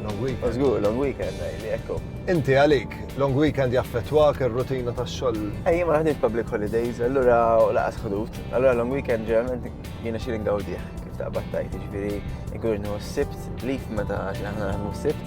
Long weekend. Żgur, long weekend, li ekku. Inti għalik, long weekend jaffettwak ir-rutina tax-xogħol. Ej, ma ħadit public holidays, allura laqas ħdut. Allura long weekend ġeneralment jiena xi ngawdih kif ta' battajt, ġifieri nkun nħu s-sibt, lif meta xi aħna nħu s-sibt.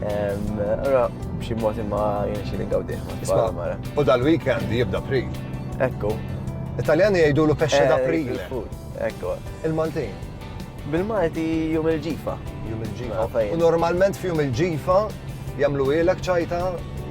Allura b'xi mod imma jiena xi ngawdih. Isma' u dal-weekend jibda pri. Ekku. Italjani jgħidulu pesce da pri. Ekku. Il-Maltin. Bil-Malti jum il-ġifa. Jum il-ġifa. U normalment fi jum il-ġifa jamlu ilek ċajta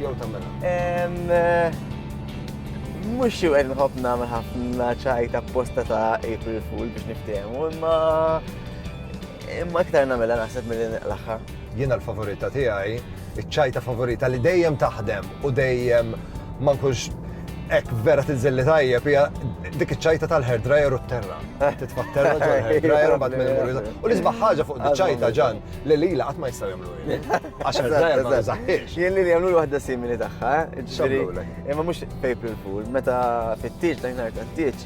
jew tamela? Eh, mux jew għed nħob namel ħafna ċajta posta ta' April Fool biex niftehmu, imma imma iktar namela naħseb mill-inqlaħħa. Jiena l-favorita tiegħi, iċ-ċajta favorita li dejjem taħdem u dejjem ma nkunx ek vera tinżilli tajjeb hija dik iċ-ċajta tal-hair dryer u t-terra. Eh. Titfatterra ġol hair dryer u bad minn imur. U li sbaħ ħaġa fuq ċajta ġan li lila qatt ma jistgħu jagħmlu Għax hair dryer ma jżaħħiex. Jien li jagħmlu waħda simili tagħha, eh? ġifieri. Imma mhux April Fool, meta fit-tieġ dan nhar tat-tieġ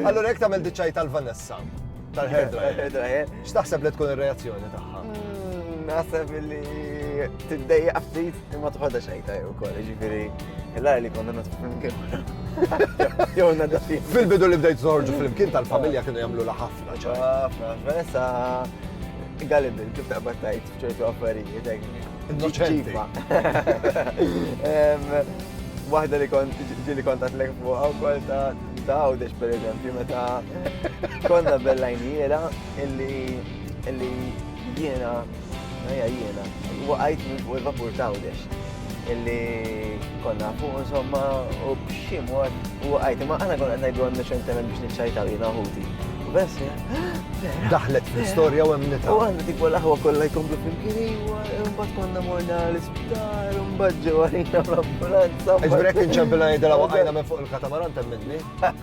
Allora jekk tagħmel diċċaj tal-Vanessa tal-hair dryer. X'taħseb li tkun ir-reazzjoni tagħha? Hmm, naħseb li tiddejja ftit imma tħodha xejn tajjeb ukoll, jiġifieri illa li konna nagħtu flimkien. Jew nagħda Fil-bidu li bdejt żorġu flimkien tal-familja kienu jagħmlu la ħafna ċar. Ħafna, Vanessa galibil kif taqbad tajt. ċertu affarijiet Innoċenti. Waħda li kont ġili kontat l-ek fuq għaw kol ta' għawdex per eżempju meta konna bellajniera illi illi jiena Ejja jiena, waqajt minn fuq il-vapur tawdex. illi konna fuq insomma u b'xi mod u għajti ma għana konna għajdu għanna ċentement biex nċajtaw jina ħuti. U bess, Daħlet fil-storja u għemnita. U għanna tipo l-ħwa kolla jkomplu fil-kiri u mbagħad konna morna l-isptar u mbagħad ġewwa l-ambulanza. Iġbrek inċempilna jidela waqajna minn fuq il-katamaran temminni.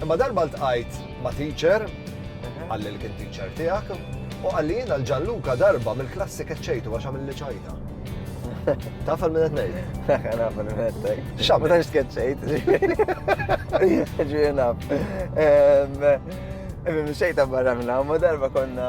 Imma darba ltqajt ma' teacher, qalli li kien teacher tiegħek, u qalli jiena l-Ġanluka darba mill-klassi keċċejtu għax għamilli ċajta. Taf għal min qed ngħid? Naf għal min qed ngħid. X'għamel? Meta x'tkeċċejt. Ġiena. Imma xejta barra minn hawn, darba konna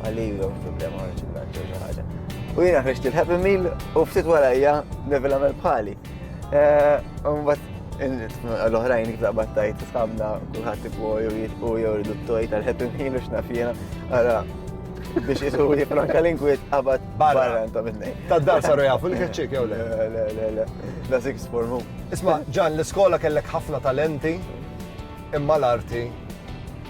Għalli jom problema għan ċukat jew xi ħaġa. U jiena ħriġt il-Happy Meal u ftit warajja Neville għamel bħali. Mbagħad eh, l-oħrajn iktar battajt sħabna kulħadd ikwo jew jitqu jew ridu t-toj tal-Happy Meal u x'naf jiena. Ara biex jisu jifranka l-inkwiet qabad barra ta' minni. Ta' dar saru jafu l-kħċik jew le? Le, le, le, le. Da' sik spormu. Isma, ġan, l-iskola kellek ħafna talenti imma l-arti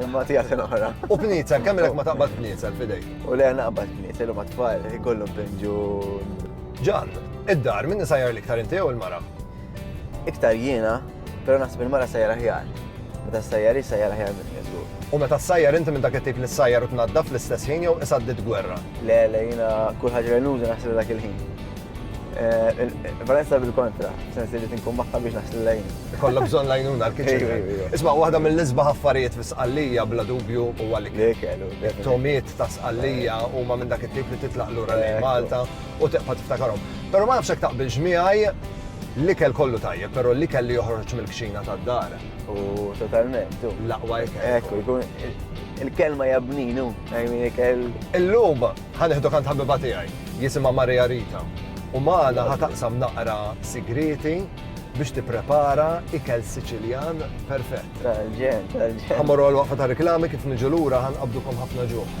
Imma tija sen oħra. U bniezel, kemm ma taqbad bniezel fidej? U le naqbad bniezel u ma tfal, ikollu pinġu. Ġan, id-dar, minni sajjar l-iktar inti u l-mara? Iktar jiena, pero naħseb il-mara sajjar aħjar. Meta sajjar sajjar aħjar minn jeżur. U meta sajjar inti minn dak it-tip li sajjar u tnaddaf fl-istess ħin jew isaddi gwerra? Le, le, jiena kull ħaġa li nuża naħseb dak il-ħin. Valenza bil-kontra, sensi li tinkun maħħa biex naħslu lajn. Kolla bżon lajnuna l-kitchen. Isma, waħda mill-isba ħaffarijiet fi sqallija bla dubju u għalik. Tomiet ta' sqallija u ma minn dak it-tip li titlaq l-ura li Malta u teqpa tiftakarom. Pero ma nafxek taqbil ġmiħaj l-ikel kollu tajjeb, pero l-ikel li joħroġ mill-kxina ta' dar. U totalment. Laqwa jkun. Ekku, jkun il-kelma jabninu, għajmin ikel. Il-lum, Ħa nieħdok għand ħabiba tiegħi, jisimha Maria Rita, u magħna ħa taqsam naqra sigrieti biex tipprepara ikel Siċiljan perfett. Tal-ġen, tal-ġen. Ħa morru għal-waqfa ta' reklami kif niġu lura ħa nqabdukom ħafna ġuħ.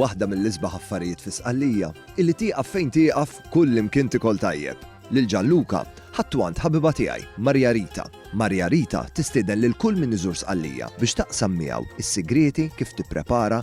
waħda mill-isbaħ affarijiet fi sqallija, illi tieqaf fejn tieqaf kull imkien tikol tajjeb. Lil Ġanluka ħattu għand ħabiba tiegħi, Marja Rita. Marja Rita tistieden lil kull min iżur sqallija biex taqsam miegħu is-sigrieti kif tipprepara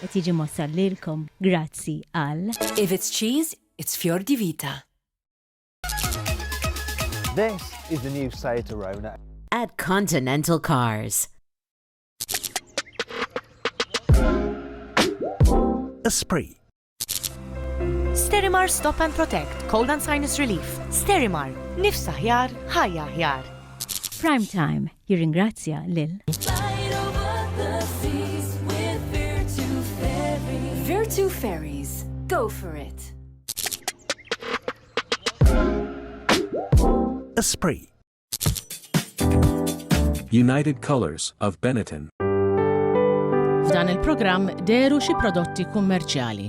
Qed jiġi mwassal lilkom grazzi għal. If it's cheese, it's Fior di Vita. This is the new Seat Arona. At Continental Cars. Esprit. Sterimar Stop and Protect, Cold and Sinus Relief. Sterimar, nifsa ħjar, ħajja ħjar. Prime Time, Jirringrazzja lil. Virtu Ferries, go for it! Esprit. United Colors of Benetton. F'dan il-programm deru xi prodotti kummerċjali.